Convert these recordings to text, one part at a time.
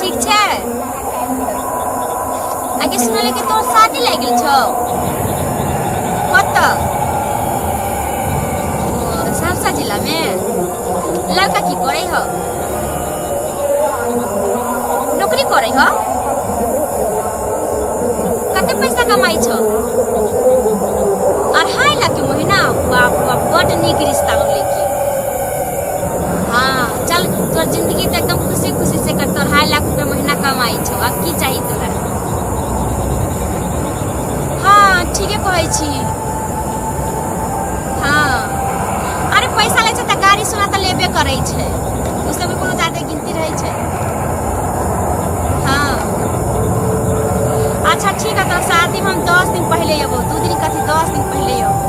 ठीक छै आगे सुनले कि तोर शादी लग गेल छौ कतऽ ओ, सहरसा जिला में लड़का की करे हो नौकरी करे हो कते पैसा कमाई छौ अढ़ाई लाख के महीना बाप रे बाप बड नीक रिश्ता हो लेकिन चल तोर जिंदगी तो एकदम खुशी खुशी से कट तोर हाई लाख रुपया महीना कमाई छो अब की चाहिए तोरा हाँ ठीके कहै छी हाँ अरे पैसा लै छै तऽ गाड़ी सोना तऽ लेबे करै छै उसमे कोनो जादे गिनती रहै छै हाँ अच्छा ठीक है तोर शादी में हम दस दिन पहले अबो दू दिन कथी दस दिन पहले अबो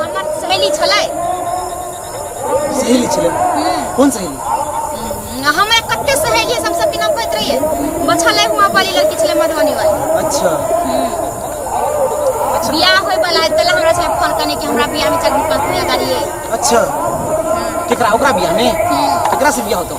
हमर सहेली छलै सहेली छलै कोन सहेली हमरा कते सहेली सब सबके नाम कहैत रहिए बछले हुआ वाली लड़की छलै मधुबनी वाली अच्छा बियाह होय वाला है तले हमरा छलै फोन करने कि हमरा बियाह में चल पाँच मिनट गाड़ी अच्छा केकरा ओकरा बियाह में केकरा से बियाह होतो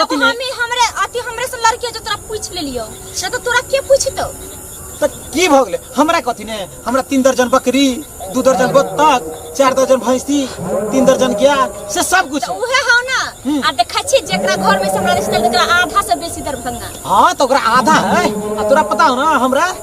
एगो कथी ले हमी हमरे अति हमरे से लड़की है जो तोरा पूछ ले लियो ना तो तोरा के पूछतो त की भ गेलै हमरा कथी ने हमरा तीन दर्जन बकरी दू दर्जन बत्तख चार दर्जन भैंसी तीन दर्जन गाय से सब कुछ तो है। उहे हो ना हम्म। आ देखा छी जेकरा घर में से हमरा रिश्ता है, ओकरा आधा से बेसी दरभंगा हाँ तो ओकरा आधा है आ तोरा पता हो ना हमरा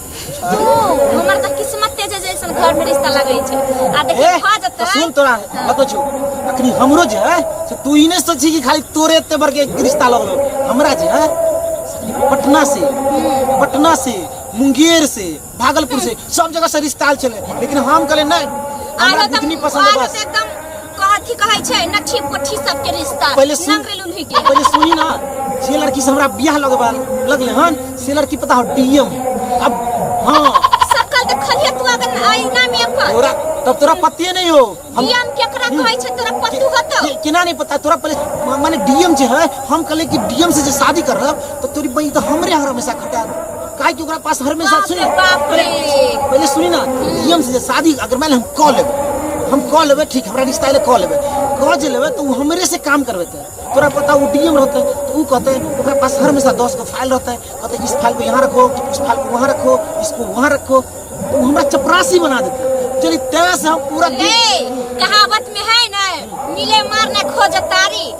हमर तऽ किस्मते छै जैसन घर में रिश्ता लगे छै आ देखिए ए, खा तो जतै सुन तोरा बतो छो अखनी हमरो जे है से तू ई नहीं सोची कि खाली तोरे एते बड़ के रिश्ता लगलो हमरा जे है से पटना से पटना से मुंगेर से भागलपुर से सब जगह से रिश्ता आल चले लेकिन हम कहले नहीं हमरा आरो तऽ- बुतनी पसंद है आरो बस तऽ एकदम कथी कहै छै नक्षी पोठी सबके रिश्ता पहिले सुन नाम भेल उन्हीं के पहिले सुनी ना जे लड़की से हमरा बियाह लगबा लगले हन से लड़की पता हो डीएम अब हाँ सकल के खलिया तू अगर आईना में अपन तोरा तब तोरा पतिए नहीं हो हम डीएम केकरा कहै छै तोरा पत्तू हतो के- केना नहीं पता तोरा पहले म- माने डीएम जे है हम कहले कि डीएम से जे शादी करब तो तोरी बहन तो हमरे यहाँ हमेशा खटा काहे कि ओकरा पास हर हमेशा सुनी पहले पहले सुनी ना नियम से जे शादी अगर मान ले हम कऽ लेबै हम कऽ लेबै ठीक हमरा रिश्ता एले कऽ लेबै कऽ जे लेबै तऽ ओ हमरे से काम करबेतै तोरा पता ओ डीएम रहतै तऽ ओ कहतै ओकरा पास हर हमेशा दस गो फाइल रहतै कहतै इस फाइल को यहाँ रखो उस फाइल को वहाँ रखो इसको वहाँ रखो तो ओ हमरा चपरासी बना देतै चलिए तेरह से हम पूरा दिन- कहावत में है ना मिले मार ना खोज तारी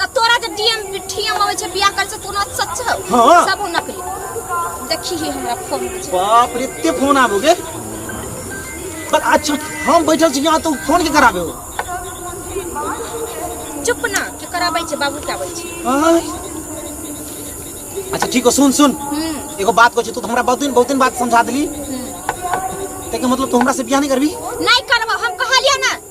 तऽ तोरा जे डीएम डीएम अबै छै बियाह करै छै कोनो सच हौ हाँ। सब नकली देखी ही हमरा फोन में छै बाप रे एते फोन आबो गे बस अच्छा हम बैठल छी यहाँ तो फोन के कराबे हो चुप ना के कराबै छै बाबू के आबै छै आय। अच्छा ठीक हो सुन सुन हम्म एगो बात कहै छै तू तो हमरा बहुत दिन बहुत दिन बात समझा देली हम्म। तेके मतलब तू हमरा से बियाह नहीं करबी नहीं करबो हम कहलिया ना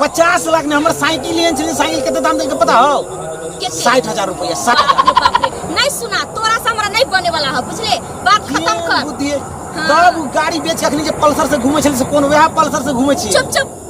पचास लाख ने हमर साइकिल एहन छलै साइकिल कते दाम देलकै पता हौ साठि हजार रुपैआ साठि हजार नहीं सुना तोरा से हमरा नहीं बने वाला है बुझले बात खत्म कर बुद्धि तब गाड़ी बेच के अखनी जे पल्सर से घूमे छलै से कोन वएह पल्सर से घूमे छी चुप चुप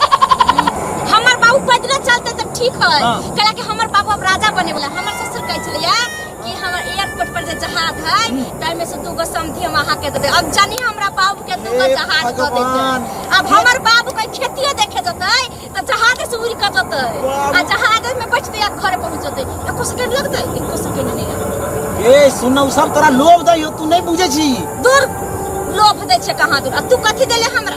हमर बाबू पैदले चलते तऽ ठीक है हाँ। कैला कि हमर बाबू अब राजा बने वाला है। हमर ससुर कहै छलिए कि हमर एयरपोर्ट पर जे जहाज है ताहि में से दू गो समधी हम अहाँ के दे देब। अब जानी हमरा बाबू के दू गो हे जहाज दे देते भगवान। अब हमर बाबू के खेतिए देखे जतै तऽ जहाज से उड़ के जतै बाबू। आ जहाज में बैठते आ घर पहुंच जतै एको सेकंड लगतै एको सेकंड नहीं लगतै ए सुन उ सब तोरा लोभ दै हो तू नहीं बुझे छी दूर लोभ दै छै कहाँ दूर आ तू कथी देले हमरा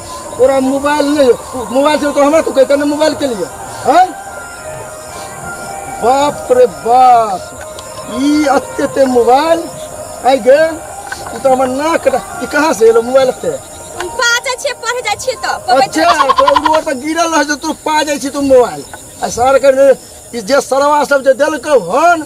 तोरा मोबाइल नहीं है तू- मोबाइल से तो हमरा तू कहते ना मोबाइल के लिए हैं बाप रे बाप ई अत्ते ते मोबाइल आई गे ई तो हमर नाक रे- ई कहाँ से एलो मोबाइल अत्ते हम बाजै छियै पढ़े जाइ छियै तऽ कहबै अच्छा तऽ- तो रोड पर गिरल रह जे तू पा जाइ छी तू मोबाइल आ सर के ई जे सरवा सब जे देलकौ हन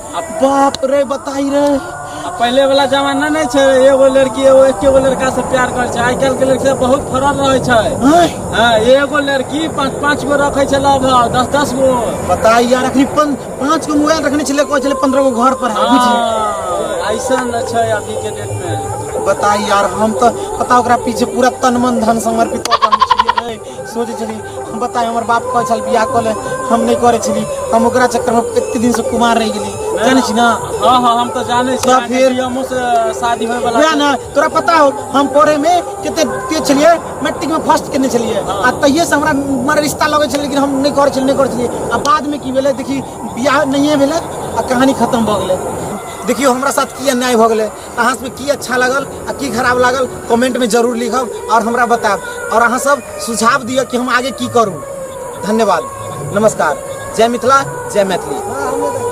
अब बाप रे बताई रे अब पहले वाला जमाना नहीं छे एगो लड़की एगो एके गो लड़का से प्यार कर छे आइ काल्हि के लड़की से बहुत फरक रहे छे आय, हाँ, एगो लड़की पाँच पाँच गो रखे छे लव दस दस गो बताई यार अखनी पन, पांच गो मोबाइल रखने चले को चले पंद्रह गो घर पर है बुझी हाँ, ऐसा न छे अभी के डेट में बताई यार हम तो पता ओकरा पीछे पूरा तन मन धन समर्पित हो सोचै छली हम बताय हमर बाप कहै छल बियाह कऽ ले हम नहि करै छली हम ओकरा चक्करमे कते दिनसँ कुमार रहि गेली जानै छी ने हाँ हाँ हम तो जाने छी तब फिर- फिर हमहूँ से शादी होय वाला वएह ने तोरा पता हो हम पढ़ैमे कते तेज छलियै मैट्रिकमे फर्स्ट केने छलियै आ तहिएसँ हमरा मने रिश्ता लगै छलै लेकिन हम नहि करै छलियै नहि करै छलियै आ बादमे की भेलै देखी बियाह नहिए भेलै आ कहानी खतम भऽ गेलै देखियौ हमरा साथ की अन्याय भऽ गेलै अहाँ सबके की अच्छा लागल आ की खराब लागल कमेंट में जरूर लिखब और हमरा बताब और अहाँ सब सुझाव दिअ कि हम आगे की करूँ धन्यवाद नमस्कार जय मिथिला जय मैथिली